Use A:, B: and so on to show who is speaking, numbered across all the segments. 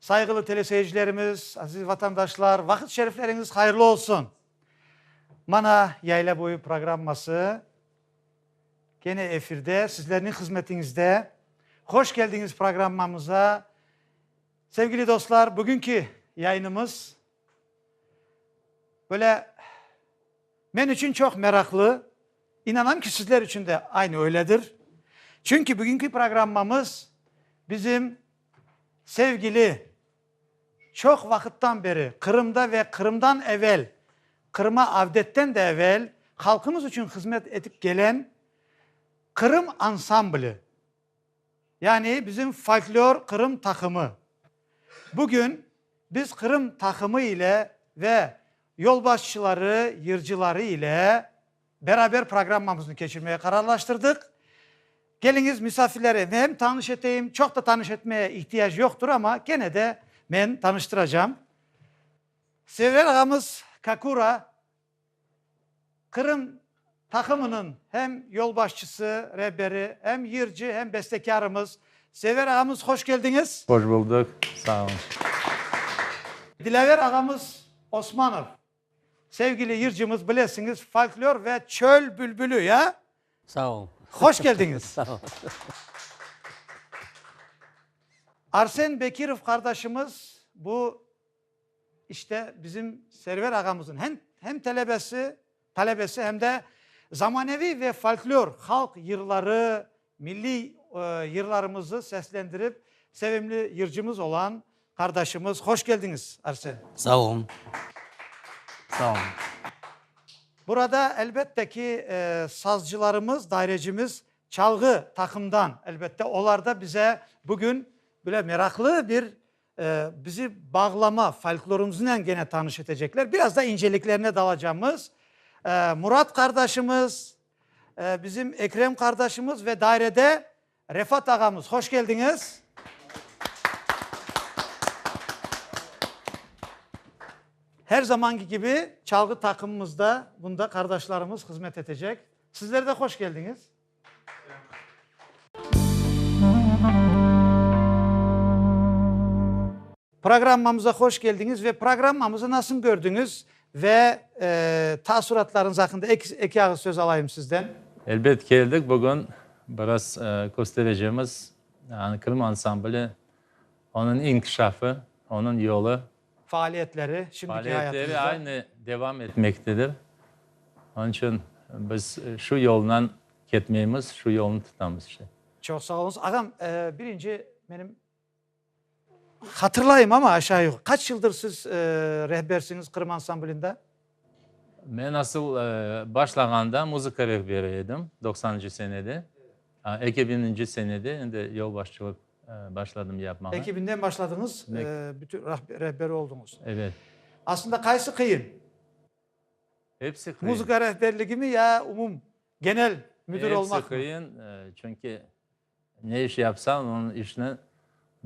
A: Sayğılı teleseyircilerimiz, aziz vatandaşlar, vaqıt şerifleriñiz hayırlı olsun! Mana, Yayla boyu programması kene efirde, sizlerniñ hızmetiñizde. Hoş keldiñiz programmamıza. Sevgili dostlar, bugünki yayınımız böyle men içün çoq meraqlı, inanam ki, sizler içün de aynı öyledir. Çünki bugünki programmamız bizim, Sevgili, çoq vaqıttan beri Qırımda ve Qırımdan evel, Qırıma avdetten de evel halqımız içün hızmet etip kelen Qırım ansambli, yani bizim folklor Qırım taqımı, bugün biz Qırım taqımı ile ve yolbaşçıları, yırcıları ile, Beraber programmamıznı keçirmege qararlaştırdıq. Keliñiz, misafirleri menem tanış eteyim. Çoq da tanış etmeye ihtiyac yoqtur, amma kene de men tanıştıracam. Server ağamız Kakura, Qırım taqımınıñ hem yolbaşçısı, reberi, hem yırcı, hem bestekârımız. Server ağamız, hoş keldiñiz. Hoş buldıq,
B: sağ olun.
A: Dilâver ağamız Osmanov. Sevgili yırcımız, bilesiñiz, folklor ve çöl bülbülü, ya? Sağ ol.
C: Hoş keldiñiz.
A: Sağ ol. Arsen Bekirov qardaşımız, bu, işte, bizim Server ağamızın hem, hem telebesi, talebesi, hem de zamaneviy ve folklor halq yırları Milliy yırlarımızı seslendirip sevimli yırcımız olan qardaşımız. Hoş keldiñiz, Arsen. Sağ olun.
C: Sağ olun.
A: Burada elbette ki, sazcılarımız, dairecimiz çalğı taqımdan, elbette, olar da bize bugün böyle meraqlı bir bizi bağlama, folklorımıznen gene tanış etecekler. Biraz da inceliklerine dalacağımız Murat qardaşımız. Bizim Ekrem qardaşımız ve dairede Refat ağamız. Hoş keldiñiz. Her zamanki kibi çalğı taqımımız da bunda qardaşlarımız hızmet etecek. Sizler de hoş keldiñiz. Programmamıza hoş keldiñiz ve programmamızı nasın kördiñiz ve taassuratlarıñız aqqında eki ağız söz alayım sizden. Elbet keldik,
B: bugün biraz kösterecemiz Krım ansambli, onıñ inkişafı, onıñ yolu. Faaliyetleri,
A: şimdiki hayatınızda. Faaliyetleri aynı devam
B: etmektedir. Onıñ içün biz şu yoldan ketmeymiz, şu yolnı tutamız işte. Çoq sağ oluñız. Ağam,
A: birinci menim. Hatırlayım ama aşağı yuqı. Qaç yıldır siz rehbersiñiz Qırım ansamblinde?
B: Men asıl başlağanda muzıka rehberi edim, doqsanıncı senede. Eki biñinci senede endi yolbaşçılıq başladım yapmağa. Eki biñden başladıñız,
A: bütün rehberi olduñız. Evet.
B: Aslında qaysı
A: qıyın?
B: Hepsi qıyın. Muzıka rehberligimi ya
A: umum, genel müdir olmaqmı? Hepsi qıyın, çünki.
B: Ne iş yapsan, onıñ işni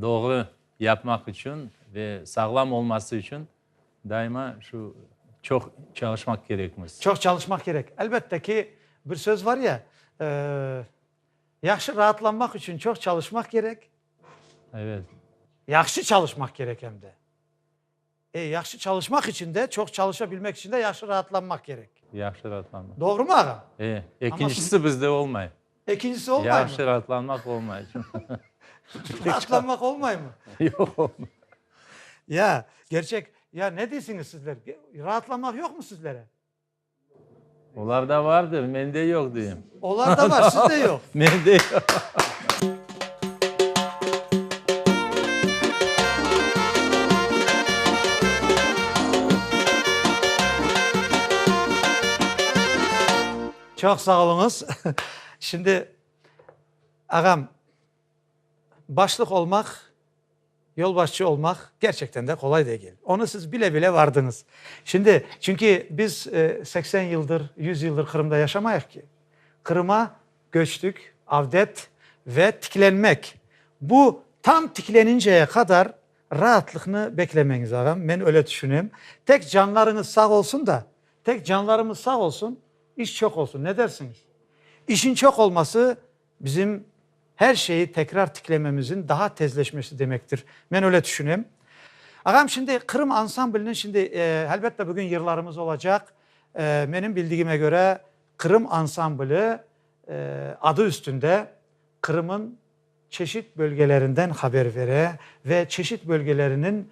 B: doğru yapmaq içün ve sağlam olması içün daima şu çoq çalışmaq kerekmiz. Çoq çalışmaq kerek.
A: Elbette ki, bir söz var ya, yahşı raatlanmaq içün çoq çalışmaq kerek. Evet.
B: Yahşı
A: çalışmaq kerek em de. E, yahşı çalışmaq içün de, çoq çalışa bilmek içün de yahşı raatlanmaq kerek. Yahşı raatlanmaq.
B: Doğrumı ağam? E,
A: ekincisi
B: bizde olmay. Ekincisi olmaymı?
A: Yahşı raatlanmaq olmay. Raatlanmaq olmaymı? Yoq,
B: olmay.
A: Ya, gerçek, ya ne deysiñiz sizler? Raatlanmaq yoqmı sizlere?
B: Olarda vardır, mende yoq, deyim. Olarda var,
A: sizde
B: yoq.
A: Mende Çoq sağ oluñız. Şimdi, ağam. Başlıq olmaq, yolbaşçı olmaq kerçekten de qolay degil. Onı siz bile-bile vardıñız. Şimdi, çünki biz seksen yıldır, yüz yıldır Qırımda yaşamayıq ki. Qırıma köçtük, avdet ve tiklenmek. Bu tam tikleninceye qadar raatlıqnı beklemeñiz, ağam, men öyle tüşünem. Tek canlarıñız sağ olsun da, tek canlarımız sağ olsun, iş çoq olsun. Ne dersiñiz? İşin çoq olması. Bizim her şeyi tekrar tiklememizin daha tezleşmesi demektir. Men öyle tüşünem. Ağam, şimdi Qırım ansambliniñ, şimdi, elbette, bugün yırlarımız olacaq. Menim bildigime köre, Qırım ansambli adı üstünde Qırım'ın çeşit bölgelerinden haber vere ve çeşit bölgeleriniñ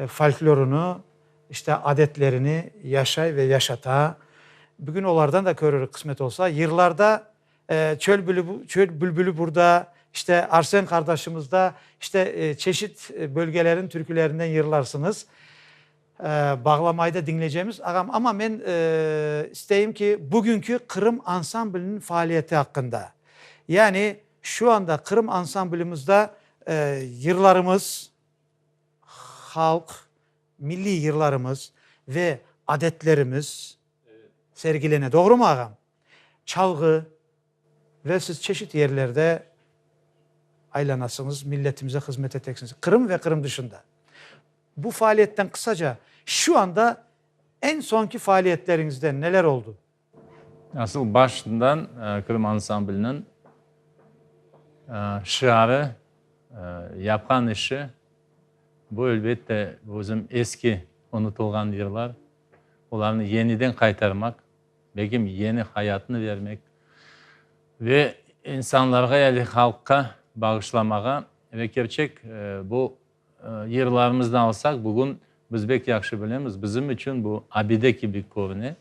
A: folklorını, işte, adetlerini yaşay ve yaşata. Bugün olardan da körürik, qısmet olsa. Yırlarda. Çöl bülbülü burda, işte, Arsen qardaşımızda, işte, çeşit bölgeleriñ türkülerinden yırlarsıñız. Bağlamayda diñleycemiz, ağam. Amma men isteyim ki, bugünki Qırım ansambliniñ faaliyeti aqqında, yani şu anda Qırım ansamblimizde yırlarımız, halq, milliy yırlarımız ve adetlerimiz sergilene. Doğrumu, ağam? Çalğı ve siz çeşit yerlerde aylanasıñız, milletimize hızmet eteksiniz. Qırım ve Qırım dışında. Bu faaliyetten qısaca, şu anda eñ soñki faaliyetleriñizden neler oldu? Asıl
B: başından Qırım ansambliniñ şiarı, yapqan işi, bu elbette bizim eski unutılğan yırlar, olarnı yeniden qaytarmaq. Begim yeni hayatını vermek ve insanlarğa yali halqqa bağışlamağa ve kerçek bu yırlarımıznı alsaq bugün biz bek yahşı bilemiz bizim içün bu abide kibi körüne.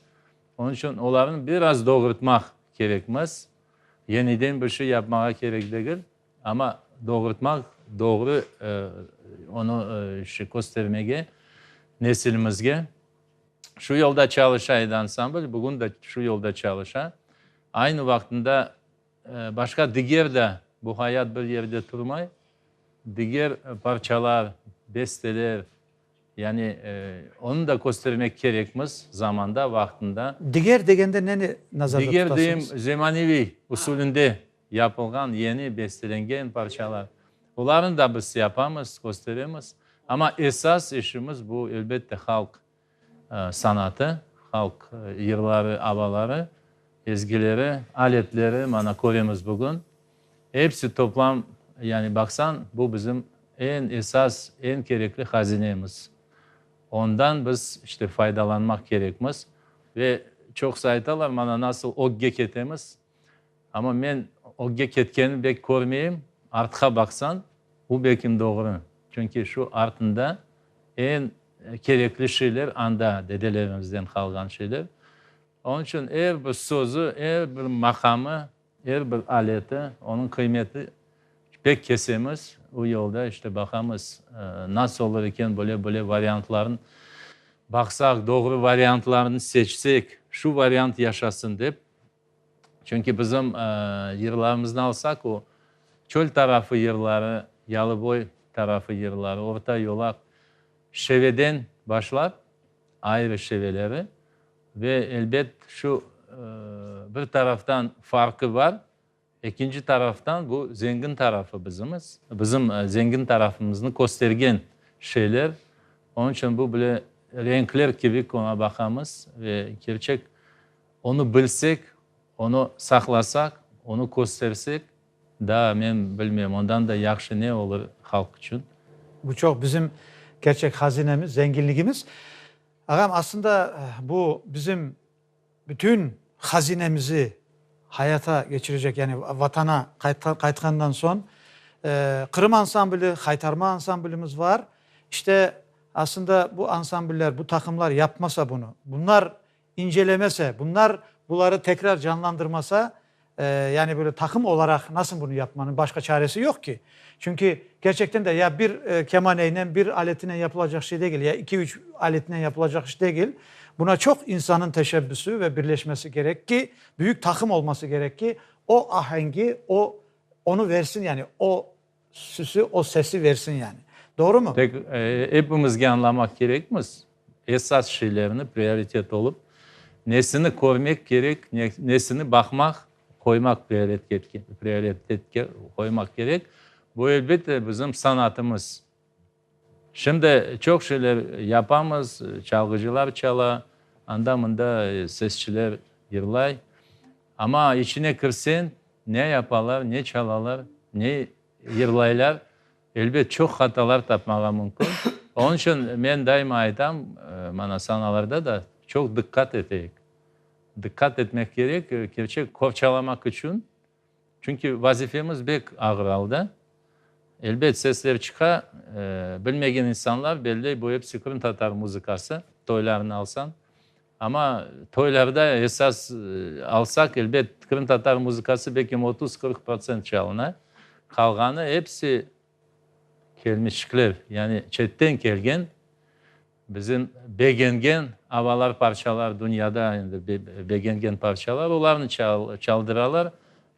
B: Onıñ içün olarnı biraz doğurtmaq kerekmiz. Yeniden bir şey yapmağa kerek degil ama doğurtmaq doğru onı köstermege nesilimizge. Şu yolda çalışa edi ansambl, bugün de şu yolda çalışa. Aynı vaqtında başqa diger de, bu hayat bir yerde turmay, diger parçalar, besteler, yani onı da köstermek kerekmiz zamanda, vaqtında. Diger degende
A: neni nazarda tutasıñız? Diger deyim,
B: zemaneviy usulünde. yapılğan yeni bestelengen parçalar, olarnı da biz yapamız, kösteremiz. Amma esas işimiz bu, elbette, halq sanatı, halq yırları, avaları, ezgileri, aletleri, mana, köremiz bugün. Episi toplam, yani baqsañ, bu bizim eñ esas, eñ kerekli hazinemiz. Ondan biz, işte, faydalanmaq kerekmiz. Ve çoqusı aytalar, mana, nasıl ögge ketemiz, Amma men ögge ketkenini bek körmeyim. Artqa baqsañ, bu belkim doğru. Çünki şu artında eñ kerekli şeyler anda, dedelerimizden qalğan şeyler. Onıñ içün er bir sözü, er bir maqamı, er bir aleti, onıñ qıymeti bek kesemiz. O yolda işte baqamız, nasıl olur eken, böyle-böyle variantlarnı baqsaq, doğru variantlarnı seçsek, şu variant yaşasın dep Çünki bizim yırlarımıznı alsaq, o, çöl tarafı yırları, yalıboy tarafı yırları, orta yolaq, şeveden başlap, ayrı şeveleri ve, elbet, şu bir taraftan farqı bar, Ekinci taraftan bu zengin tarafı bizimiz, bizim zengin tarafımıznı köstergen şeyler. Onıñ içün bu bile renkler kibi ki oña baqamız ve kerçek onı bilsek, onı saqlasaq, onı köstersek daa men bilmem ondan da yahşı ne olur halq içün. Bu çoq bizim
A: kerçek hazinemiz, zenginligimiz. Ağam, aslında bu bizim Bütün hazinemizi hayata keçirecek, yani Vatana qaytqandan soñ Qırım ansambli, Haytarma ansamblimiz var. İşte, aslında bu ansambller, bu taqımlar yapmasa bunı, bunlar incelemese, bunlar buları tekrar canlandırmasa, Yani böyle taqım olaraq nasıl bunı yapmanıñ başqa çaresi yoq ki. Çünki kerçekten de ya bir kemaneyle, bir aletinen yapılacaq şey degil, ya iki-üç aletinen yapılacaq iş degil. Buna çoq insanıñ teşebbüsü ve birleşmesi kerek ki, büyük taqım olması kerek ki, o ahengi o, onı versin, yani o, Süsi o sesi versin yani. Doğrumı? Tek epimizge
B: añlamaq kerekmiz, esas şeylerni prioritet olıp, nesini körmek kerek, nesini baqmaq, qoymaq prioritetke qoymaq kerek. Bu, elbette, bizim sanatımız. Şimdi çoq şeyler yapamız, çalğıcılar çala, anda-mında sesçiler yırlay. Amma içine kirseñ, ne yapalar, ne çalalar, ne yırlaylar, elbet çoq hatalar tapmağa mümkün. Onıñ içün men daima aytam, mana sanalarda da çoq diqqat eteyik. Diqqat etmek kerek, kerçek qorçalamaq içün. Çünki vazifemiz bek ağır alda. Elbet, sesler çıqa, bilmegen insanlar belley, bu episi qırımtatar muzıkası, toylarını alsañ. Amma toylarda esas alsaq, elbet, qırımtatar muzıkası bek em otuz-qırq procent çalına, qalğanı episi, Kelmişçikler, yani çetten kelgen, bizim begengen avalar, parçalar, dünyada endi begengen parçalar, olarnı çaldıralar,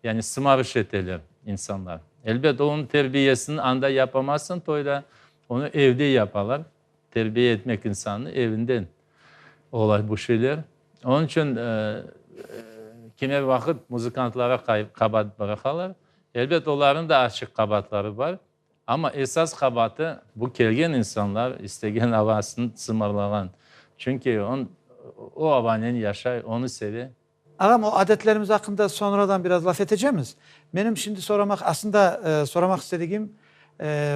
B: yani sımarış eteler insanlar. Elbet, onıñ terbiyesini anda yapamaysıñ toyda, onı evde yapalar. Terbiye etmek insannı evinden olay bu şeyler. Onıñ içün kimer vaqıt muzıkantlara qabaat bıraqalar. Elbet, olarnıñ da açıq qabaatları bar, amma esas qabaatı bu kelgen insanlar istegen avasını sımarlağan. Çünki o avanen yaşay, onı seve. Ağam, o
A: adetlerimiz aqqında soñradan biraz laf etecemiz. Menim şimdi soramaq, aslında soramaq istedigim,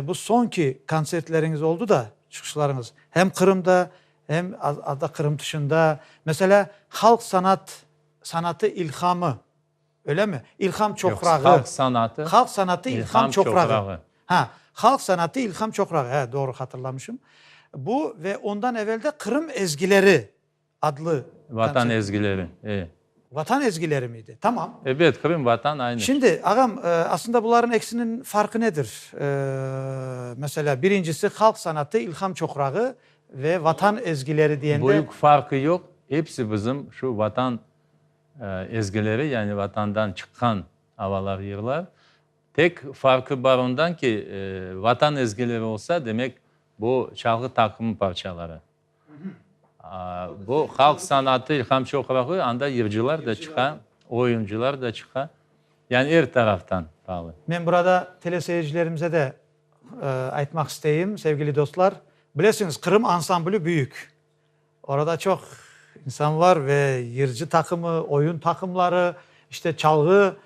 A: bu soñki kontsertleriñiz oldu da, çıqışlarıñız, hem Qırımda, hem azda Qırım tışında, meselâ, halq sanat, sanatı ilhamı, öylemi? İlham çoqrağı. Yoq, halq sanatı. Halq
B: sanatı ilham çoqrağı.
A: Ha, halq sanatı ilham çoqrağı, doğru hatırlamışım. Bu ve ondan evel de Qırım ezgileri. adlı konsertinde. Vatan
B: ezgileri,
A: e.
B: Vatan ezgileri
A: miydi? Tamam. Ebet, Qırım, Vatan,
B: aynı. Şimdi, ağam,
A: aslında bularnıñ eksiniñ farqı nedir? Meselâ, birincisi, halq sanatı, ilham çoqrağı ve vatan ezgileri diyende. Büyük farqı yoq,
B: episi bizim şu vatan ezgileri, yani vatandan çıqqan avalar, yırlar. Tek farqı bar ondan ki, vatan ezgileri olsa, demek, bu çalğı taqımı parçaları. Bu halq sanatı ilham çoqrağı, anda yırcılar da çıqa, oyuncılar da çıqa, yani er taraftan faalım. Men burada
A: teleseyircilerimize de aytmaq isteyim, sevgili dostlar, bilesiñiz, Qırım ansambli büyük, orada çoq insan var ve yırcı taqımı, oyun taqımları, işte çalğı,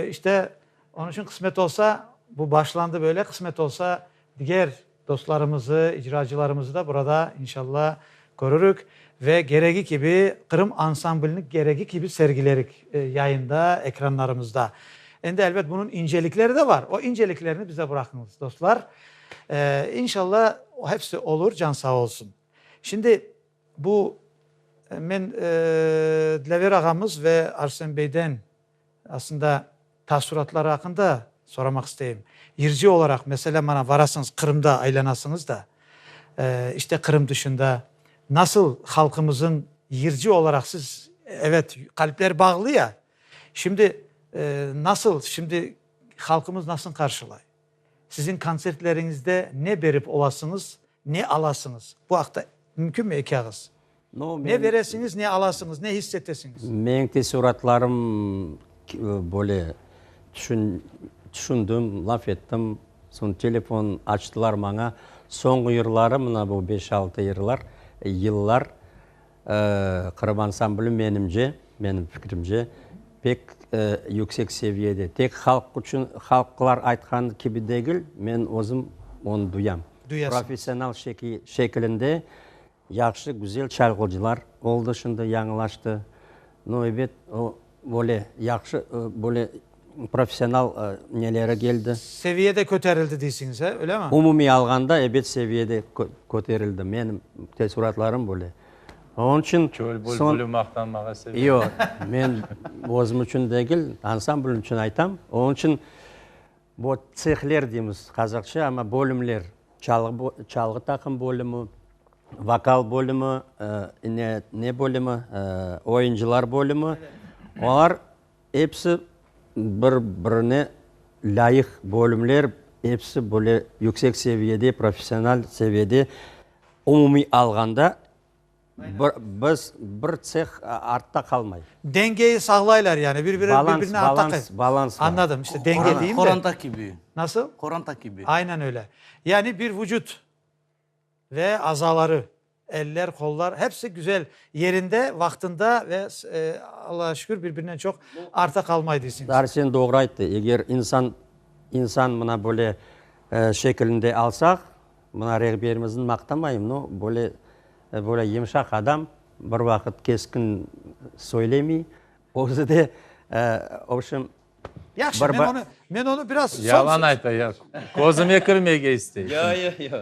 A: işte onıñ içün qısmet olsa, bu başlandı böyle, qısmet olsa diger, Dostlarımızı, icracılarımızı da burada, inşalla, körürik ve geregi kibi Qırım ansamblini geregi kibi sergilerik yayında, ekranlarımızda. Endi, elbet, bunıñ incelikleri de bar. O inceliklerni bize bıraqıñız, dostlar. İnşalla, hepsi olur, can sağ olsun. Şimdi, bu, men Dilâver ağamız ve Arsen beyden Aslında, taassuratları aqqında soramaq isteyim. Yırcı olaraq, meselâ, mana varasıñız, Qırımda aylanasıñız da, işte, Qırım tüşünde nasıl halqımızın yırcı olaraq siz, evet, qalpler bağlı ya, şimdi nasıl, şimdi halqımız nasıl qarşılay? Siziñ kontsertleriñizde ne berip olasıñız, ne alasıñız? Bu aqta mümkünmi eki ağız? Ne
C: beresiñiz, ne
A: alasıñız, ne his etesiñiz? Meñ tesüratlarım
C: böyle tüşündim, laf ettim, soñ telefon açtılar maña. Soñu yırları, mına bu beş-altı yırlar, Qırım ansambli, menimce, menim fikrimce, pek yüksek seviyede, tek halq içün, halqlar aytqanı kibi degil, men özüm onı duyam. Duyasıñız. Professional şekilinde yahşı, güzel çalğıcılar oldı, şimdi yañılaştı. No, ebet, o. Böyle yahşı, böyle professional neleri keldi. Seviye de köterildi
A: deysiñiz, he, öylemi? Umumiy alğanda, ebet,
C: seviye de köterildi. Menim teessuratlarım böyle. Onıñ içün. Çöl böyle, böyle
B: maqtanmağa
C: sevindim.
B: Yoq, men
C: özüm içün degil, ansambl içün aytam. Onıñ içün bu tsehler deymiz qazaqça, amma bölümler. Çalğı taqım bölümi, vokal bölümi, ine, ne bölümi, oyuncılar bölümi, olar episi bir-birine lâyıq bölümler, episi böyle yüksek seviyede, professional seviyede, umumiy alğanda. Biz bir tseh artta qalmay. Dengeyi sağlaylar
A: yani, bir biri birine artta qay. Balans,
C: balans. Anladım, işte denge deyim de.
A: Qoranta kibi.
D: Nasıl? Qoranta
A: kibi. Aynen
D: öyle.
A: Yani bir vucut ve azaları, eller, qollar hepsi güzel yerinde, vaqtında ve Allağa şükür bir birinden çoq artta qalmay deysiniz. Arsen doğru ayttı,
C: eger insan, insan mına böyle şekilinde alsaq, Mına rehberimizin maqtamayım, no, böyle, böyle yımşaq adam, bir vaqıt keskin söylemey, özü de, obşim, Yahşı,
A: men onı, men onı biraz. Yalan ayta, ya,
B: közüme kirmege istey. Yo, yo, yo.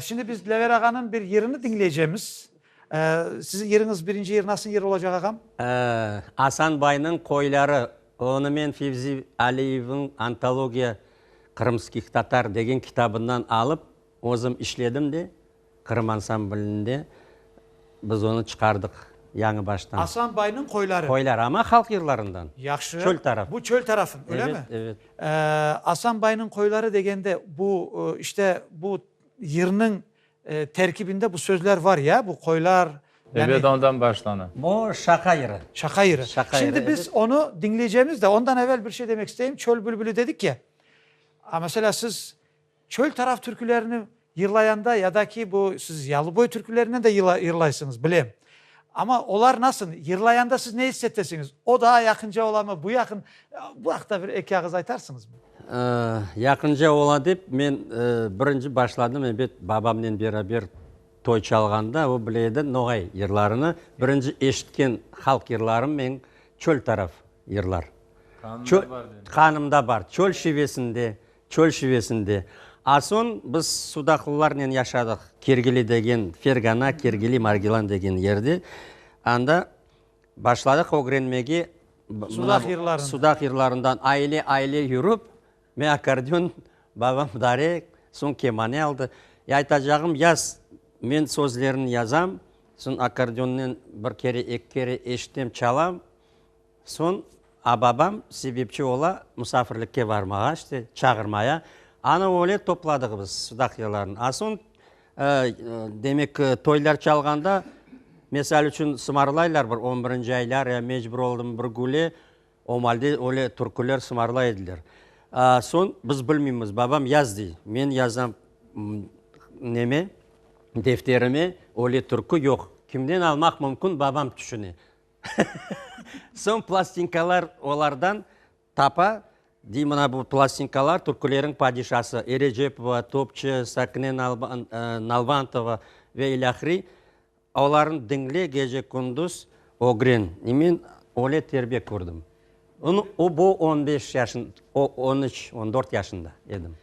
A: Şimdi biz Dilaver ağanıñ bir yerini diñleycemiz. Siziñ yeriñiz, birinci yer nasıl yer olacaq ağam? Asan
C: baynıñ qoyları, onumen Fevzi Aliyevniñ Antologiya qırımskih tatar degen kitabından alıp, özüm işledim de, Qırım ansamblinde Biz onı çıqardıq yañı baştan. Asan bayniñ qoyları.
A: Qoyları, amma halq
C: yırlarından. Yahşı. Çöl taraf. Bu
A: çöl
C: tarafın, öyle mi?
A: Evet, evet.
C: Asan
A: bayniñ qoyları degende bu, işte, bu yırnıñ terkibinde bu sözler var, ya? Bu qoylar, yani. Evet, ondan başlana.
B: Bu Şaqa yırı.
C: Şaqa yırı. Şaqa yırı, evet.
A: Şimdi biz onı diñleycemiz
C: de,
A: ondan evel bir şey demek isteyim. Çöl bülbülü dedik ya. Mesela siz Çöl taraf türkülerini yırlayanda ya da ki, bu siz yalıboy türkülerinen de yırlaysıñız, bilem. Amma olar nasıl, yırlayanda siz ne issettesiñiz? O daa yaqınca olamı, bu yaqın? Bu aqta bir eki ağız aytarsıñızmı? Yaqınca
C: ola dep, men birinci başladım, ebet, babamnen beraber toy çalğanda, o bile edi noğay yırlarını. Birinci eşitken halq yırlarım meñ, çöl taraf yırlar. Qanımda bar. Qanımda bar. Çöl şivesinde, Çöl şivesinde. A soñ biz sudaqlılarnen yaşadıq, Kergili degen, Fergana, Kergili, Margilan degen yerde. Anda başladıq ögrenmege. Sudaq yırlarında. Sudaq yırlarında aile-aile yürip, men akkordeon, babam dare, soñ kemane aldı. E, aytacağım, yaz, men sözlerini yazam, soñ akkordeonnen bir kere, eki kere eşitem, çalam. Soñ A-babam sebepçi ola, musafirlikke barmağa, işte, çağırmaya. Ana öyle topladığımız sudaqyalarnı. A soñ, demek, toylar çalğanda, mesal içün, sımarlaylar bir on birinci aylar, ya mecbur oldım bir güle, omalde öyle türküler sımarlay ediler. Soñ biz bilmeymiz, babam yaz dey. Men yazam neme, defterime, öyle türkü yoq. Kimden almaq mümkün, babam tüşüne. Soñ plastinkalar olardan tapa, dey, mına bu plastinkalar, türküleriñ padişası, Erecepova, Topçu, Sakine Nalbantova ve ilâhre, olarnı diñle gece-kündüz ögren. Men öyle terbiye kördim. Bu on beş yaşın, on üç, on dört yaşında edim.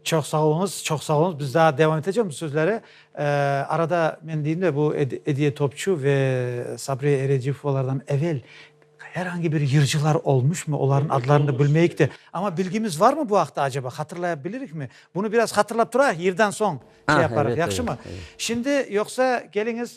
C: Çoq
A: sağ oluñız, çoq sağ oluñız. Biz daa devam eteceğiz bu sözleri. Arada men deyim de, bu Ediye Topçu ve Sabriye Erediyevkovalardan evel her angi bir yırcılar olmuşmı? Olarnıñ adlarını da bilmeyik de. Amma bilgimiz varmı bu aqta acaba? Hatırlaya bilirikmi? Bunı biraz hatırlap turayıq, yırdan soñ şey yaparıq, yahşımı?
C: Şimdi,
A: yoqsa keliñiz,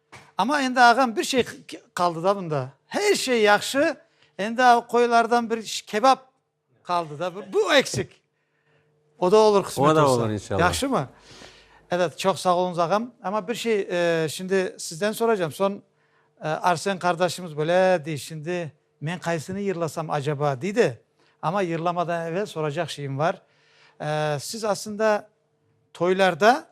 A: Amma endi, ağam, bir şey qaldı da bunda. Her şey yahşı, endi o qoyulardan bir kebap qaldı da, bu eksik. O da olur qısmet olsa. O da olur inşallah. Yahşımı? Evet, çoq sağ oluñız, ağam. Amma bir şey şimdi sizden soracağım. Soñ Arsen qardaşımız böyle dey, şimdi men qaysını yırlasam acaba, dey de. Amma yırlamadan evel soracaq şeyim var. Siz aslında toylarda,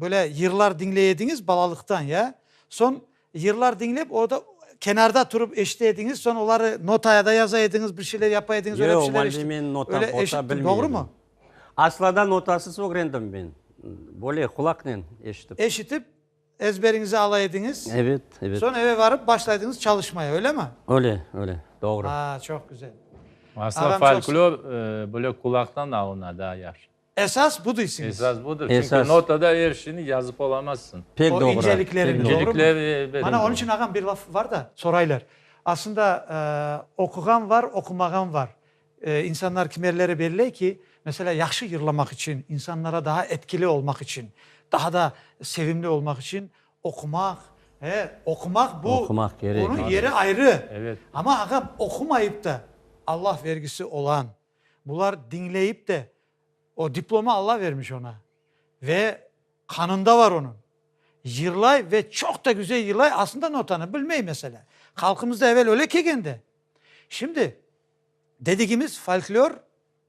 A: Böyle yırlar diñley ediñiz balalıqtan, ya? Soñ yırlar diñlep, orda kenarda turıp eşite ediñiz, soñ oları notaya da yaza ediñiz, bir şeyler yapa ediñiz, öyle bir şeyler eşittim. Yoq, Valde, men nota, pota bilmey
C: edim. Doğrumı?
A: Aslında
C: notasız ögrendim men. Böyle qulaqnen eşitip. Eşitip,
A: ezberiñize ala ediñiz. Evet, evet. Soñ
C: eve barıp başlaydıñız
A: çalışmaya, öylemi? Öyle, öyle,
C: doğru. Aa, çoq güzel.
A: Aslında
B: folklor
A: böyle
B: qulaqtan alına daa yahşı. Esas bu deysiniz.
A: Esas budur. Çünki Esas.
B: notada er
C: şeyni
B: yazıp olamazsın. Pek O doğru. incelikleri,
A: Pek doğru.
C: doğru mu? İncelikler,
A: evet. Mana onıñ
B: içün, ağam, bir
A: laf var da, soraylar. Aslında, e, oquğan var, oqumağan var. E, insanlar kimerleri belley ki, meselâ, yahşı yırlamaq içün, insanlara daa etkili olmaq içün, daha da sevimli olmaq içün oqumaq, e, oqumaq bu, Oqumaq kerek. onıñ yeri
C: ayrı.
A: Evet. Amma, ağam, oqumayıp da Allah vergisi olan, Bular diñleyip de, O diplomı Alla vermiş oña ve qanında bar onıñ. Yırlay ve çoq da güzel yırlay, aslında notanı bilmey, meselâ. Halqımızda evel öyle kelgen de. Şimdi, dedigimiz folklor,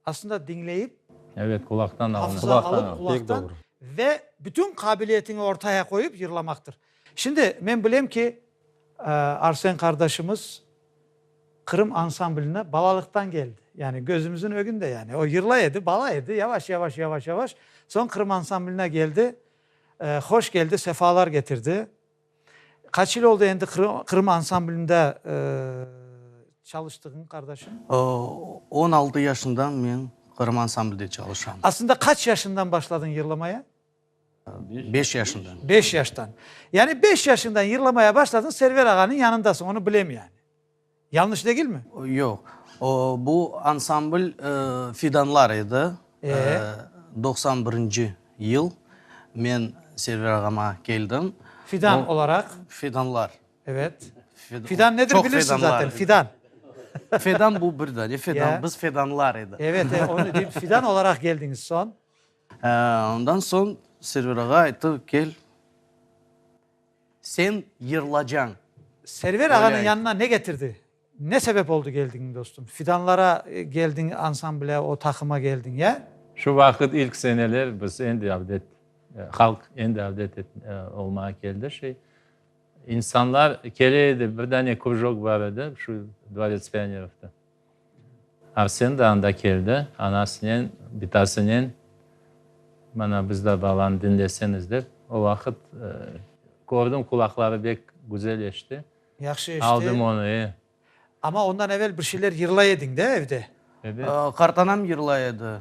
A: aslında diñleyip, Evet, qulaqtan
B: alınıp. hafıza alıp, Qulaqtan, pek qulaqtan
A: doğru.
C: ve bütün
A: qabiliyetiñi ortaya qoyıp yırlamaqtır. Şimdi, men bilem ki, Arsen qardaşımız Qırım ansambline balalıqtan keldi. Yani gözümüzün ögünde yani. O yırlay edi, bala edi, yavaş, yavaş, yavaş, yavaş. Soñ Qırım ansambline keldi. Hoş keldi, sefalar getirdi. Qaç yıl oldı endi Qırım ansamblinde çalıştığıñ, qardaşım? On
E: altı yaşından men Qırım ansamblide çalışam. Aslında qaç yaşından
A: başladıñ yırlamaya?
E: Beş yaşından. Beş yaştan.
A: Yani beş yaşından yırlamaya başladın, Server ağanıñ yanındasıñ, onı bilem yani. Yanlış degilmi? Yoq. O,
E: bu ansambl Fidanlar edi. Ee? Doqsan birinci yıl men Server ağama keldim. Fidan olaraq?
A: Fidanlar.
E: Evet.
A: Fidan nedir bilirsiñ zaten, fidan. Fedan
E: bu bir dane, fedan, biz fedanlar edi.
A: Evet,
E: evet, onı
A: deyim, fidan olaraq keldiñiz, soñ? Ondan
E: soñ Server ağa ayttı, kel, sen yırlacañ. Server
A: ağanıñ yanına ne getirdi? Ne sebep oldı geldiñ, dostum? Fidanlara geldiñ, ansamble, o taqıma geldiñ, ya? Şu vaqıt ilk
B: seneler biz endi avdet, halq endi avdet olmağa keldi. Şey, insanlar kele edi, bir dane krujok bar edi, şu Dvorets pionerovda. Arsen de anda keldi, anasınen, bitasınen, mana bizde balam, diñleseniz dep. O vaqıt kördim, qulaqları bek güzel eşti. Yahşı eşti. Aldım
A: onı, e.
B: Amma
A: ondan evel bir şeyler yırlay ediñ de evde? Ebet.
B: Qartanam yırlay
E: edi,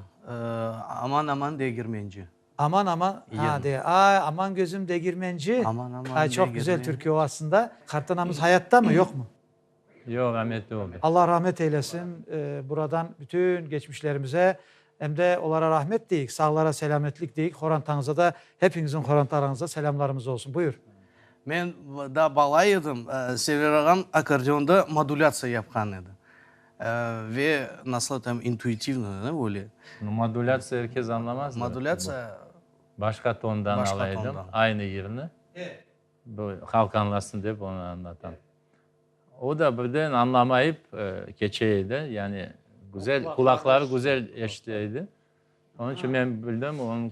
E: Aman, aman, degirmenci. Aman, aman,
A: ha, de, ay, aman, gözüm, degirmenci. Aman, aman, degirmenci. Ay, çoq
E: güzel türkü o
A: aslında. Qartanamız hayattamı, yoqmı? Yoq, ametli
B: oldı. Alla rahmet eylesin.
A: Buradan bütün geçmişlerimize em de olara rahmet deyik, sağlara selâmetlik deyik, qorantanıza da, hepiñizin qorantalarıñıza selâmlarımız olsun. Buyur. Men
E: daa bala edim, Sever ağam akkordeonda modulâtsiya yapqan edi. Ve nasıl aytayım, intuitivno, ne, öyle. No modulâtsiya er
B: kes añlamaz. Modulâtsiya.
E: Başqa
B: tondan ala edim, aynı yırnı, bu qalqanlasın dep, onı añlatam. O da birden añlamayıp keçe edi, yani güzel, qulaqları güzel eşite edi. Onıñ içün men bildim, onıñ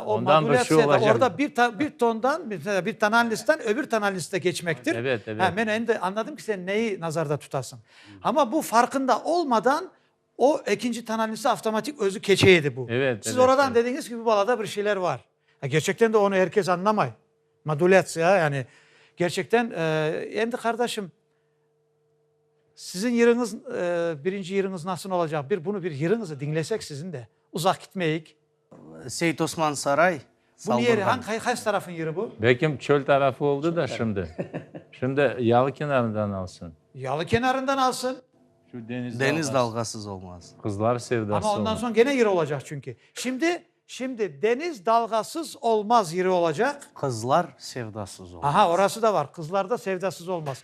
A: ondan bir şey olacaq.
B: Aa, o modulâtsiya da,
A: orda bir tondan, bir tonalnostdan öbür tonalnosta keçmektir. Evet, evet. Ha, men endi
B: añladım ki,
A: sen neyi nazarda tutasıñ. Amma bu farqında olmadan, O, ekinci tanalnisi avtomatik özü keçe edi bu. Evet, Siz oradan evet. dediñiz
B: ki, bu
A: balada bir
B: şeyler
A: var. Ya gerçekten de onı er kes añlamay. Modulâtsiya, yani gerçekten, e, endi qardaşım, siziñ yırıñız, e, birinci yırıñız nasıl olacaq, bir bunu bir yırıñızı diñlesek siziñ de, uzaq gitmeyik. Seit
E: Osman Saray, Saldırğan. Bu
A: ne yeri? Qaysı tarafın
E: yeri bu?
A: Belkim çöl tarafı
B: oldı da şimdi. Şimdi yalı kenarından alsın. Yalı kenarından
A: alsın. Şu deniz dalğası.
B: Deniz dalğasız
E: olmaz. Qızlar sevdası olmaz. Ama
B: ondan soñ gene yeri
A: olacaq
B: çünki.
A: Şimdi, şimdi deniz dalğasız olmaz yeri olacaq. Qızlar
E: sevdasız olmaz. Aha, orası da bar. Qızlarda
A: sevdasız olmaz.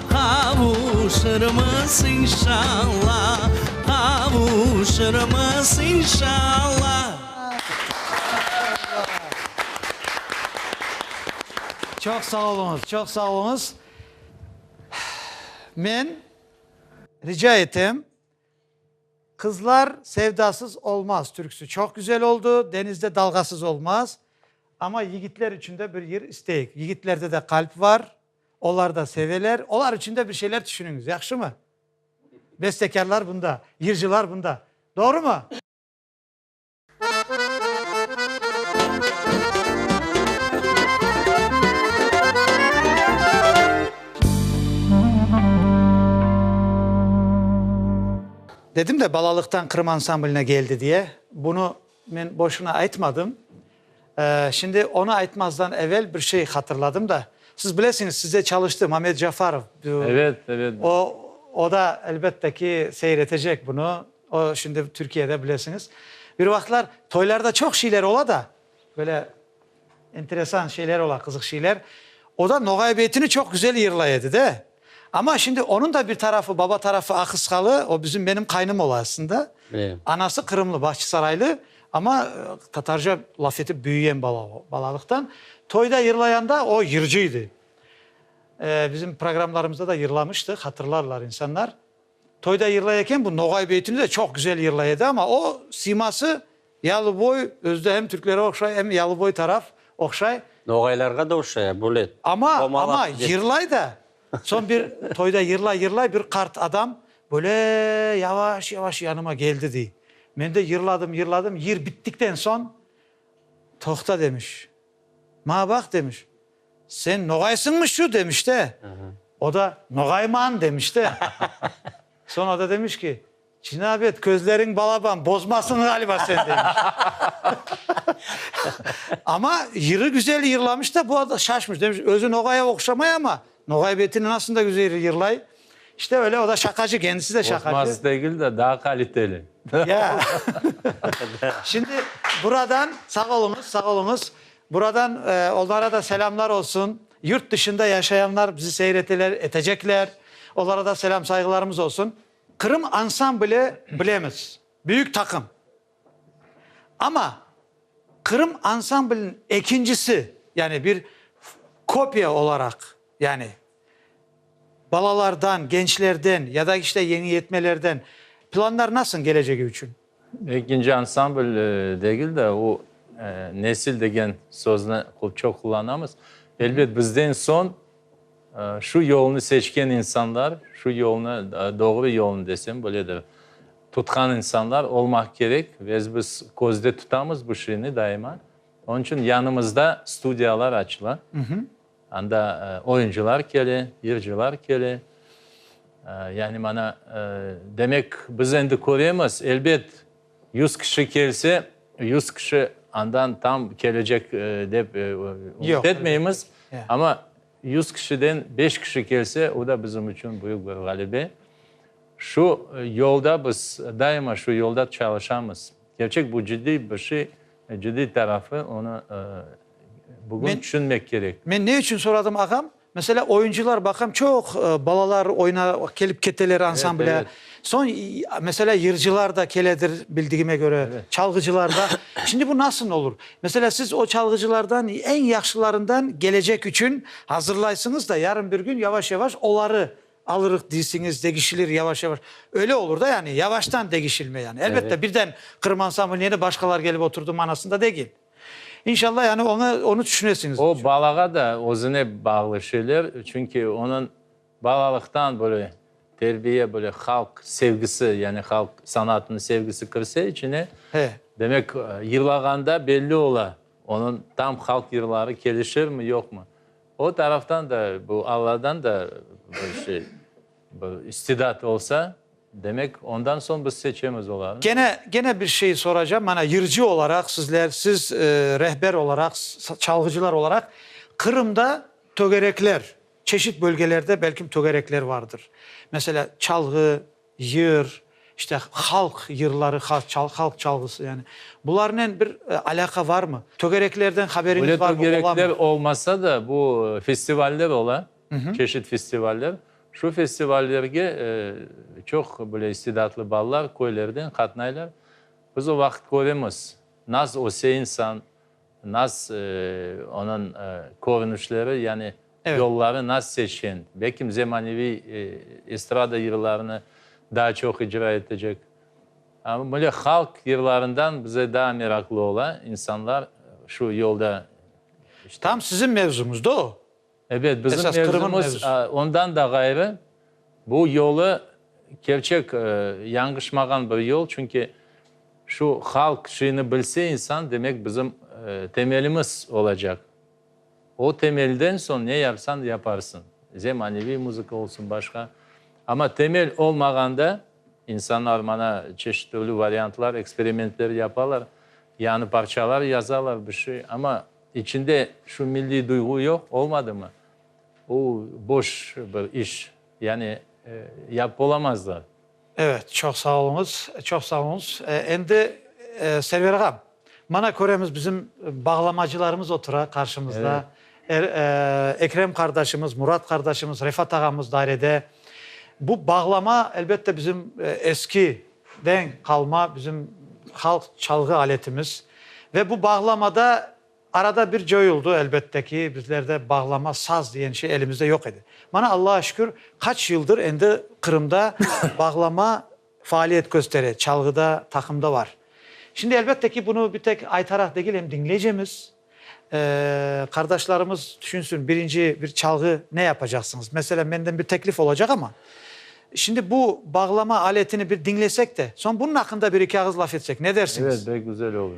D: Qavuşırmız, inşalla, qavuşırmız, inşalla.
A: Çoq sağ oluñız, çoq sağ oluñız. Men rica etem, Qızlar sevdasız olmaz türküsi çoq güzel oldu, Denizde dalğasız olmaz, amma yigitler içün de bir yır isteyik. Yigitlerde de qalp var. Olar da seveler, olar içün de bir şeyler tüşüniñiz, yahşımı? Bestekârlar bunda, yırcılar bunda. Doğrumı? Dedim de, balalıqtan Qırım ansambline geldi diye. Bunı Men boşuna aytmadım. Şimdi onı aytmazdan evel bir şey hatırladım da. Siz bilesiñiz, sizde çalıştı Mamed Cafarov. Evet, evet.
B: O, o da,
A: elbette ki, seyir etecek bunı. O, şimdi Türkiyede, bilesiñiz. Bir vaqıtlar toylarda çoq şeyler ola da, böyle Enteresan şeyler ola, qızıq şeyler. O da Noğay beytini çoq güzel yırlay edi de. Amma şimdi onıñ da bir tarafı, baba tarafı Ahısqalı, o bizim, menim qaynım ola aslında. Anası
C: Qırımlı,
A: Bahçısaraylı, amma tatarca laf etip büyüyen bala o, balalıqtan. Toyda yırlayanda o yırcı edi. Bizim programlarımızda da yırlamıştı, hatırlarlar insanlar. Toyda yırlay eken, bu Noğay beytini de çoq güzel yırlay edi, amma o, siması yalıboy, özü de hem türklere oqşay, em yalıboy taraf oqşay. Noğaylarğa da
C: oşşay, a, böyle Amma, amma
A: yırlay da, soñ bir toyda yırlay, yırlay, bir qart adam böyle yavaş, yavaş yanıma keldi, dey. Men de yırladım, yırladım, yır bittikten soñ, toqta, demiş. Maña baq, demiş, sen noğaysıñmı şu, demiş de. O da, noğayman, demiş de. Soñra da demiş ki, cinab et, közleriñ balaban bozmasın ğaliba sen, demiş. Ama yırı güzel yırlamış da, bu şaşmış, demiş, özü noğaya oqşamay, ama noğay betinin asında güzel yırlay. İşte öyle, o da şaqacı, kendisi de şaqacı. Qorqmaz degil de, daa
B: qaliteli. Ya.
A: Şimdi buradan, sağ oluñız, sağ oluñız, buradan onlara da selâmlar olsun. Yurt dışında yaşayanlar bizi seyreteler, etecekler. Olara da selâm, sayğılarımız olsun. Qırım ansambli bilemiz, büyük taqım. Amma Qırım ansambliniñ ekincisi, yani bir kopya olaraq, yani, Balalardan, gençlerden ya da işte yeñi yetmelerden planlar nasıñ gelecegi içün? Ekinci
B: ansambl degil de, o nesil degen sözni çoq qullanamız. Elbet bizden soñ şu yolnı seçken insanlar, şu yolnı, doğru yolnı desem böledir, tutqan insanlar olmaq kerek ve biz közde tutamız bu şiini daima. Onıñ içün yanımızda studiyalar açıla. Anda oyuncılar kele, yırcılar kele. Yani mana, demek, biz endi köremiz, elbet, yüz kişi kelse, yüz kişi andan tam kelecek dep ümüt etmeymiz, amma
A: yüz
B: kişiden beş kişi kelse, o da bizim içün büyük bir ğalebe. Şu yolda biz, daima şu yolda çalışamız. Kerçek, bu ciddiy bir şey. Cıddiy tarafı, onı bugün tüşünmek kerek. Men ne içün soradım,
A: ağam? Meselâ, oyuncılar, baqam, çoq balalar oyuna kelip keteler ansamblâ. Soñ, meselâ, yırcılar da keledir, bildigime köre, çalğıcılar da. Şimdi bu nasıl olur? Meselâ, siz o çalğıcılardan eñ yahşılarından kelecek içün azırlaysıñız da, yarın bir kün yavaş-yavaş oları Alırıq deysiñiz, degişilir yavaş-yavaş. Öyle olur da yani, yavaştan degişilme yani. Elbette, birden Qırım
B: ansamblı
A: neni başqalar kelip oturdı manasında degil. İnşallah yani oña, onı tüşünesiñiz. O balağa da
B: özüne bağlı şeyler, çünki onıñ balalıqtan böyle terbiye, böyle halq sevgisi, yani halq sanatınıñ sevgisi kirse içine, demek, yırlağanda belli ola, onıñ tam halq yırları kelişirmi, yoqmı. O taraftan da, bu Alladan da bir şey, bir istidat olsa, demek, ondan soñ biz seçemiz olarnı. Kene, gene bir şey
A: soracağım. Mana, yırcı olaraq sizler, siz rehber olaraq, çalğıcılar olaraq, Qırımda tögerekler, çeşit bölgelerde belkim tögerekler vardır. Meselâ, çalğı, Yır, işte, halq yırları, halq çalğısı, yani, bularnen bir alâqa varmı? Tögereklerden haberiñiz varmı? Böyle tögerekler
B: olmasa da, bu festivaller ola, çeşit festivaller. Şu festivallerge çoq, böyle, istidatlı balalar köylerden qatnaylar. Biz o vaqıt köremiz, naz öse insan, Naz, onıñ körünişleri, yani yolları naz
A: seçken.
B: Belkim zemaneviy estrada yırlarını daa çoq icra etecek. Amma böyle halq yırlarından bize daa meraqlı ola insanlar şu yolda işte. Tam
A: siziñ mevzuñızda o. Ebet, bizim
B: mevzumız
A: ondan
B: da
A: ğayrı,
B: bu yolu kerçek yanğışmağan bir yol, çünki şu halq şiini bilse insan, demek bizim temelimiz olacaq. O temelden soñ ne yapsan yaparsın, zemaneviy muzıka olsun, başqa, amma temel olmağanda insanlar mana çeşit türlü variantlar, eksperimentler yapalar, yañı parçalar yazalar, bir şey, amma. İçinde şu milliy duyğu yoq, olmadımı? O, boş bir iş. Yani, yapıp olamazlar. Evet,
A: çoq sağ oluñız, çoq sağ oluñız. Endi, Server ağam, mana köremiz, bizim bağlamacılarımız otura qarşımızda. Ekrem qardaşımız, Murat qardaşımız, Refat ağamız dairede. Bu bağlama, elbette, bizim eski. den qalma bizim halq çalğı aletimiz ve bu bağlamada arada bir coyuldı, elbette ki, bizlerde bağlama, saz diyen şey elimizde yoq edi. Mana, Allağa şükür, qaç yıldır endi Qırımda bağlama faaliyet köstere, çalğıda, taqımda bar. Şimdi, elbette ki, bunı bir tek aytaraq degil, em diñleycemiz. Qardaşlarımız tüşünsün, birinci bir çalğı ne yapacaqsıñız? Meselen, menden bir teklif olacaq, amma şimdi bu bağlama aletini bir diñlesek de, soñ bunun aqqında bir-iki ağız laf etsek, ne dersiñiz? Evet, bek güzel olur.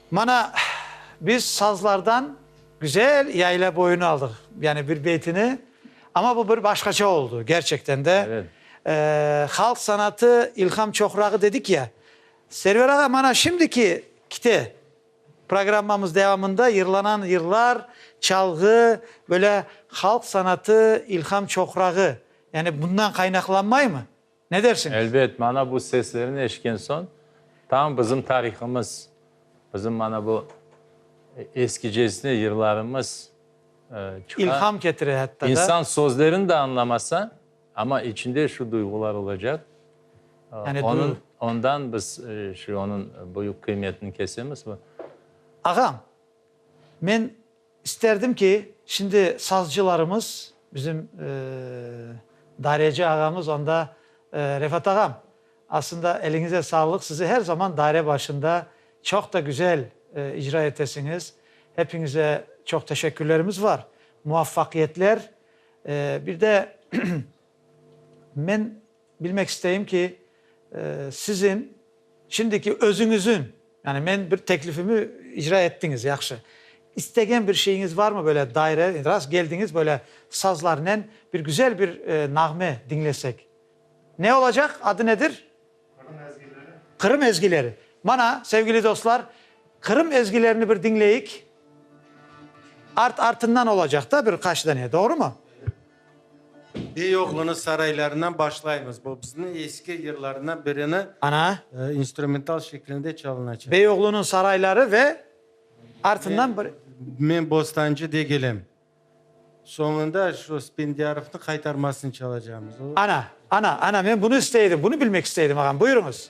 A: Mana, biz sazlardan güzel yayla boyunu aldıq, yani bir beytini, ama bu bir başqaça oldu, gerçekten de. Evet.
B: Halq sanatı
A: ilham çoqrağı dedik ya, Server ağa, mana şimdiki kite, programmamız devamında yırlanan yırlar, çalğı, böyle halq sanatı ilham çoqrağı, yani bundan qaynaqlanmaymı? Ne dersiñiz? Elbet, mana bu
B: seslerni eşitken soñ, tam bizim tarihımız, bizim mana bu eskicesine yırlarımız çıqa. İlham ketire
A: hatta da. İnsan sözlerini de
B: añlamasa, amma içinde şu duyğular olacaq. Yani
A: duyğu. Ondan
B: biz şu onıñ büyük qıymetini kesemiz. Ağam,
A: men İsterdim ki, şimdi sazcılarımız, bizim Dareci ağamız, onda Refat ağam, aslında eliñize sağlıq, sizi her zaman daire başında çoq da güzel icra etesiñiz. Hepiñize çoq teşekkürlerimiz var. Muvaffaqiyetler. Bir de men. Bilmek isteyim ki, siziñ şimdiki özüñiziñ, yani men bir teklifimi icra ettiñiz, yahşı, istegen bir şeyiñiz varmı, böyle daire, rast geldiñiz, böyle sazlarnen bir güzel bir nağme diñlesek? Ne olacaq, adı nedir? Qırım ezgileri. Qırım ezgileri. Mana, sevgili dostlar, Qırım ezgilerini bir diñleyik. Art-artından olacaq da bir qaç dane, doğrumı? Bey oğlunı
F: saraylarından başlaymız. Bu bizniñ eski yırlarından birini Ana.
A: instrumental
F: şeklinde çalınacaq. Bey oğlunıñ sarayları
A: ve artından bir. Men Bostancı
F: degilem. Soñunda şu Spendârovnı qaytarmasını çalacağımız. Ana, ana, ana,
A: men bunı istey edim, bunı bilmek istey edim, ağam, buyurıñız.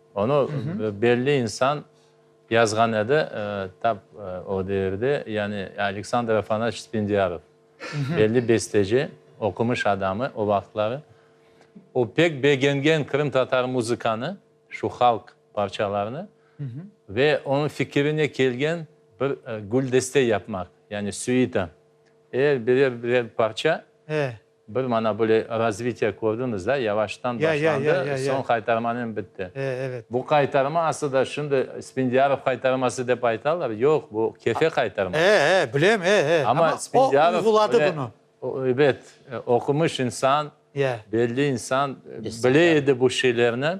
B: Onı belli insan yazğan edi, tap o devirde, yani Aleksandr Afanaç Spendiyarov, belli besteci, oqumış adamı o vaqıtları. O pek begengen qırımtatar muzıkanı, şu halq parçalarını ve onıñ fikirine kelgen bir güldeste yapmaq, yani süita, er birer-birer parça. Bir mana böyle razvitiye kördiñiz da, yavaştan başlandı, soñ qaytarmanen bitti. Bu qaytarma aslında şimdi Spindiarov qaytarması dep aytalar, yoq, bu Kefe qaytarması. Bilem,
A: amma o uyguladı
B: bunı. Ebet, oqumış insan, belli insan, bile edi bu şeylerni.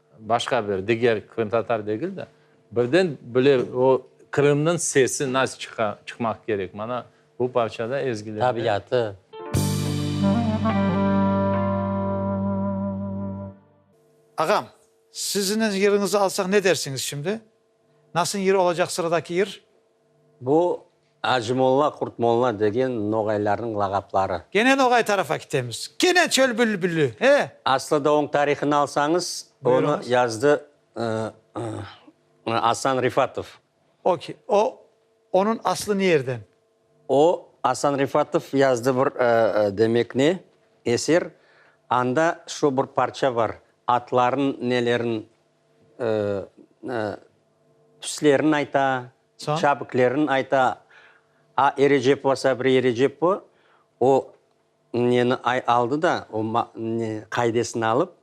B: Başqa bir, diger qırımtatar degil de, birden bile o Qırımnıñ sesi nasıl çıqa, çıqmaq kerek, mana bu parçada, ezgilerde. Tabiatı.
A: Ağam, sizniñ yeriñizi alsaq ne dersiñiz şimdi? Nasıñ yır olacaq sıradaki yır? Bu,
C: Acımolla, Qurtmolla degen noğaylarnıñ lağapları. Kene noğay tarafa
A: kitemiz. Kene çöl bülbülü, e! Aslı da oñ
C: tarihını alsañız, onı yazdı Asan Rifatov. Oki, o,
A: onıñ aslı ne yerden? O,
C: Asan Rifatov yazdı bir, demek ne, eser, anda şu bir parça bar, atlarnıñ neleriñ Tüslerin ayta, çabiklerin ayta. A Erecepova Sabriye Erecepova o neni aldı da, o qaidesini alıp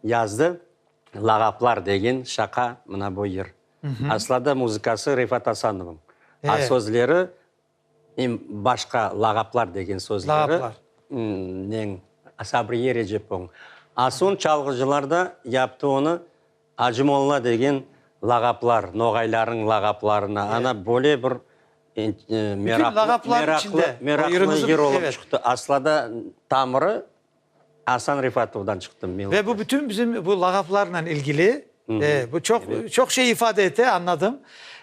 C: yazdı, Lağaplar degen şaqa mına bu yır. Asla da muzıkası Refat Asanovnıñ, a sözleri Em başqa lağaplar degen sözleri
A: neñ, Sabriye
C: Recepoñ. Asun çalğıcılar da yaptı onı Acı Molla degen lağaplar, noğaylarnıñ lağaplarına. Ana böyle bir meraqlı yır olıp çıqtı. Aslada tamırı Asan Refatovdan çıqtı. Ve bu bütün bizim
A: bu lağaplarla ilgili, bu çoq şey ifade ete, añladım.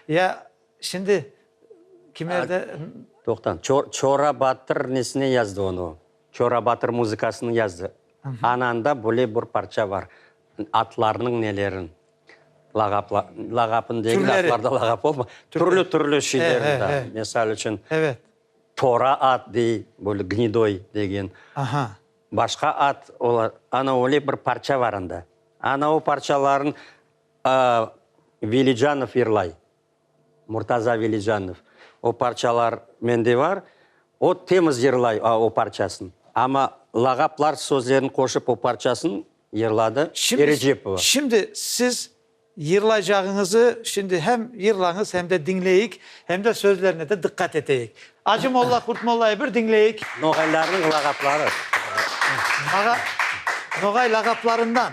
A: Ya. Şimdi kimerde? Toqtan,
C: Çora Batır nesine yazdı onu? Çora Batır muzıkasını yazdı. Ananda böyle bir parça bar, atlarnıñ nelerin, lağapın degil, atlarda lağap olma, türlü-türlü şeylerinde, mesal içün, Tora at dey, böyle Gnidoy degen, başqa at, ana öyle bir parça bar anda. Ana o parçalarnı Velicanov yırlay. Murtaza Velijanov, O parçalar mende var. O temiz yırlay o parçasın. Amma lağaplar sözlerini qoşıp o parçasın yırladı Erecepova. Şimdi siz
A: yırlaycağıñızı şimdi hem yırlañız, hem de diñleyik, hem de sözlerine de diqqat eteyik. Acı molla, Qurt mollayı bir diñleyik. Noğaylarnıñ lağapları.
C: Ağa,
A: Noğay lağaplarından.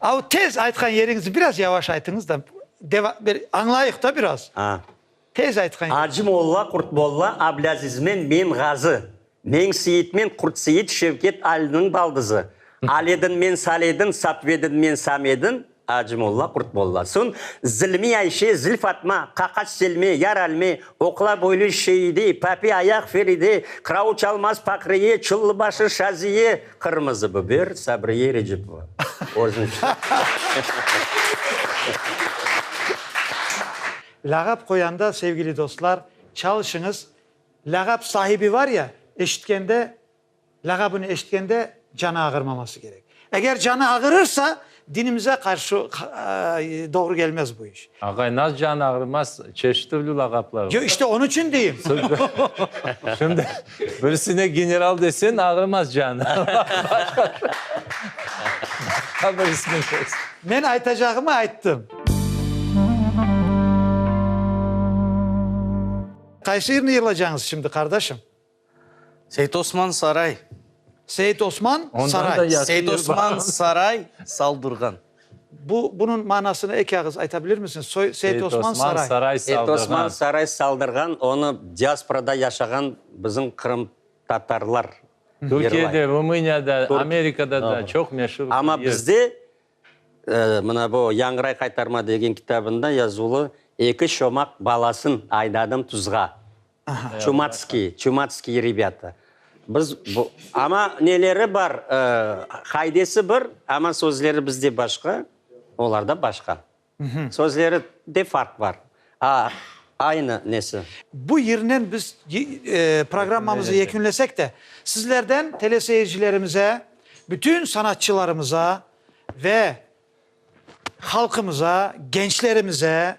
A: Av tez aytqan yeriñizni biraz yavaş aytıñız da, deva, bir añlayıq da biraz. A. Tez aytqan. Acı molla, Qurt
C: molla, Ablâzizmen Menğazı, Meñseyitmen Qurtseyit, Şevket Aliniñ baldızı, Aledinmen Saledin, Satvedinmen Samedin, Acı molla, Qurt molla, soñ Zilmi Ayşe, Zilfatma, Qaqaç Selme, Yar Alme, Oqla boylu Şeide, Papi ayaq Feride, Qırauç Almaz Paqriye, Çıllıbaşı Şaziye, Qırmızı biber, Sabriye Recipova.
A: Lâğap qoyanda, sevgili dostlar, çalışıñız, lâğap sahibi var ya, eşitkende, lâğabını eşitkende canı ağırmaması kerek. Eger canı ağırırsa, Dinimize qarşı doğru gelmez bu iş. Ağay, nasıl canı
B: ağrımaz, çeşit türlü lağaplar var. Yo, işte onıñ içün deyim.
A: Şimdi
B: birisine general desen, ağrımaz canı. Başqa bir ismi desen. Men aytacağımı
A: ayttım. Qaysı yırnı yırlacañız şimdi, qardaşım?
E: Seit-Osman Saray. Seit-Osman
A: Saray.
B: Seit-Osman Saray, Saldurğan.
E: Bu,
A: bunıñ manasını eki ağız ayta bilirmisiñiz? Soy, Seit-Osman Saray. Saray, Saldırğan. Seit-Osman
B: Saray,
C: Saldırğan, onı diasporada yaşağan bizim qırımtatarlar yırlay. Türkiyede,
B: Rumıniyada, Amerikada da çoq meşur. Amma bizde,
C: mına bu Yañray qaytarma degen kitabında yazılı, Eki çomaq balasın aydadım tuzğa. Çumatskiy, çumatskiy rebâta. Biz bu, amma neleri bar, qaidesi bir, amma sözleri bizde başqa, olarda başqa. Sözleri de farq bar, a aynı nesi. Bu yernen
A: biz programmamızı yekünlesek de, sizlerden teleseyircilerimize, bütün sanatçılarımıza ve Halqımıza, gençlerimize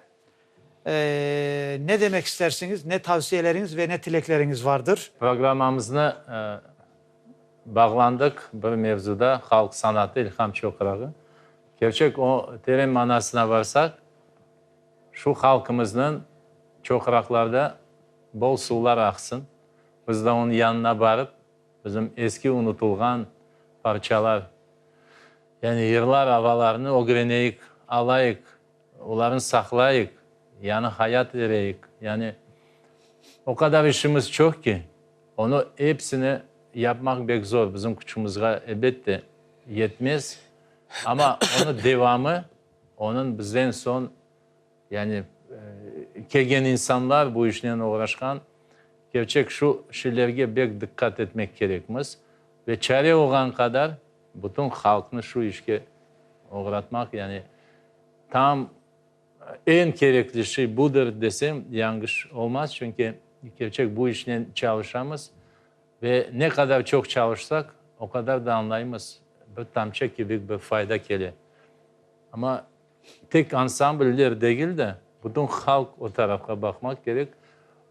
A: ne demek istersiñiz, ne tavsiyeleriñiz ve ne tilekleriñiz vardır? Programmamıznı
B: bağlandıq bir mevzuda, halq sanatı, ilham çoqrağı. Kerçek o teren manasına varsaq, şu halqımıznıñ çoqraqlarda bol suvlar aqsın, biz da onıñ yanına barıp, Bizim eski unutılğan parçalar, yani yırlar, avalarnı ögreneyik, alayıq, olarnı saqlayıq, yañı hayat bereyik. Yani o qadar işimiz çoq ki, onı epsini yapmaq bek zor, bizim küçümizğa ebet de yetmez, amma onı devamı, onıñ bizden soñ, Yani, kelgen insanlar, bu işnen oğraşqan, kerçek şu şilerge bek diqqat etmek kerekmiz ve çare olğan qadar bütün halqnı şu işke oğratmaq, yani tam eñ kerekli şiy budır desem, yanğış olmaz, çünki kerçek bu işnen çalışamız ve ne qadar çoq çalışsaq, o qadar da añlaymız, bir tamça kibik bir fayda kele. Amma. Tek ansambller degil de, bütün halq o tarafqa baqmaq kerek,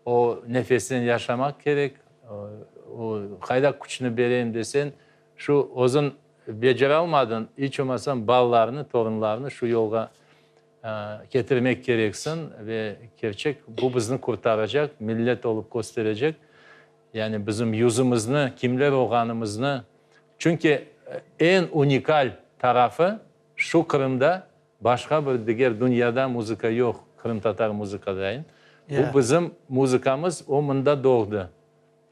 B: o nefesten yaşamaq kerek, o qayda küçni bereyim desen, şu özün beceralmadın, iç olmasam balalarını, torunlarını şu yolğa ketirmek kereksiñ ve kerçek bu bizni qurtaracaq, millet olup kösterecek, yani bizim yüzümizni, kimler olğanımıznı, çünki eñ unikal tarafı, Şu Qırımda başqa bir diger dünyada muzıka yoq, qırımtatar muzıkadayn. Bu bizim muzıkamız, o mında doğdı.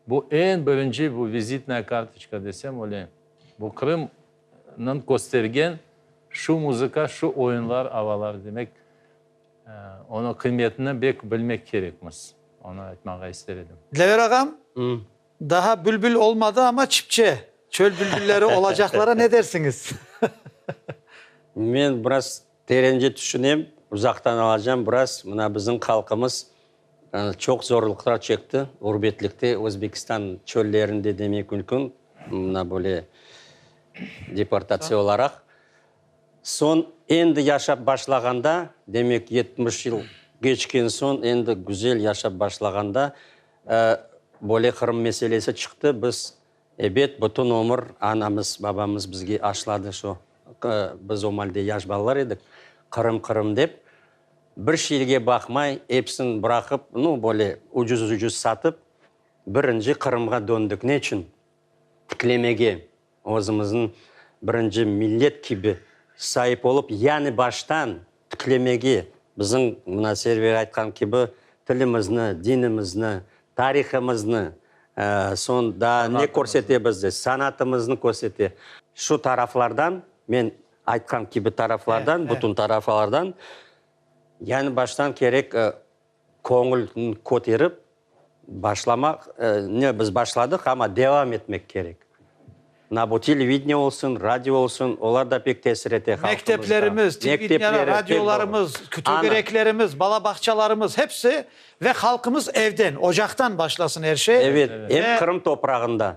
B: Bu eñ birinci bu vizitnaya kartoçka desem oleyim. Bu Qırımnıñ köstergen şu muzıka, şu oyunlar, avalar. Demek, onıñ qıymetini bek bilmek kerekmiz. Onı aytmağa ister edim. Dilaver ağam,
A: Daha bülbül olmadı, amma çipçe, çöl bülbülleri olacaqlara ne dersiñiz? Men
C: biraz terence tüşünem, uzaqtan alacam biraz. Mına bizim halqımız çoq zorluqlar çekti ğurbetlikte, Özbekistan çöllerinde demek mümkün, mına böyle deportatsiya olaraq. Soñ endi yaşap başlağanda, demek yetmiş yıl keçken soñ, endi güzel yaşap başlağanda, Böyle Qırım meselesi çıqtı, biz, ebet, bütün ömür anamız, babamız bizge aşladı şu, biz o malde yaş balalar edik, Qırım, Qırım dep, bir şeyge baqmay, episini bıraqıp, nu, böyle ucuz-ucuz satıp, birinci Qırımğa döndük. Ne içün? Tiklemege. özümizniñ birinci millet kibi saip olıp, yani baştan tiklemege, bizim mına Server aytqan kibi tilimizni, dinimizni, tarihımıznı, soñ daa ne körsete bizde, sanatımıznı körsete. Şu taraflardan, men aytqan kibi taraflardan, bütün tarafalardan yani baştan kerek. Köñülni köterip başlamaq, ne biz başladıq, amma devam etmek kerek. Na bu televidniye olsun, radio olsun, olar da pek tesir ete halqımızğa. Mekteplerimiz,
A: televidniye, radiolarımız, tögereklerimiz, bala bağçalarımız, hepsi ve halqımız evden, ocaqtan başlasın er şey. Evet, em Qırım
C: toprağında,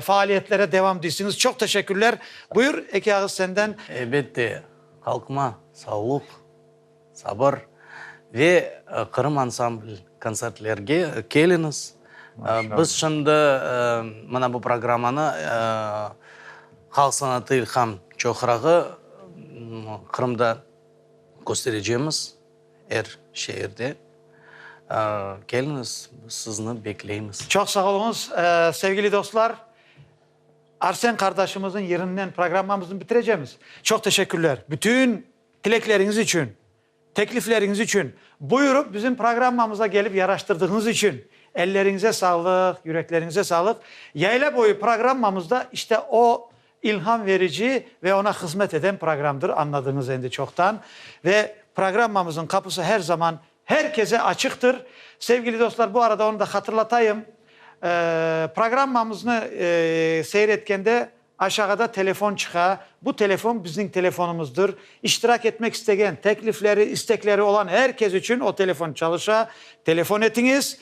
A: Faaliyetlere devam deysiniz. Çoq teşekkürler. Buyur, eki ağız senden. Elbette,
E: halqıma sağlıq, sabır ve Qırım ansambl kontsertlerge keliniz. Biz şimdi mına bu programmanı Halq sanatı ilham çoqrağı Qırımda kösterecemiz. Er şeerde keliñiz, biz sizni bekleymiz. Çoq sağ oluñız.
A: Sevgili dostlar, Arsen qardaşımıznıñ yırınen programmamıznı bitirecemiz. Çoq teşekkürler. Bütün tilekleriñiz içün, teklifleriñiz içün, buyurıp bizim programmamıza kelip yaraştırdığıñız içün elleriñize sağlıq, yürekleriñize sağlıq. Yayla boyu programmamızda işte o İlham verici ve oña hızmet eden programdır, añladıñız endi çoqtan. Ve programmamızıñ qapısı her zaman her keze açıqtır. Sevgili dostlar, bu arada onı da hatırlatayım, programmamıznı seyretkende aşağıda telefon çıqa, bu telefon bizniñ telefonımızdır, İştirak etmek istegen, teklifleri, istekleri olan er kes içün o telefon çalışa, telefon etiñiz.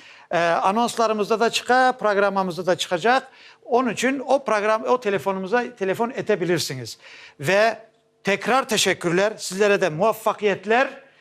A: Anonslarımızda da çıqa, programmamızda da çıqacaq. Onıñ içün o program, o telefonımıza telefon etebilirsiñiz. Ve tekrar teşekkürler, sizlere de muvaffaqiyetler,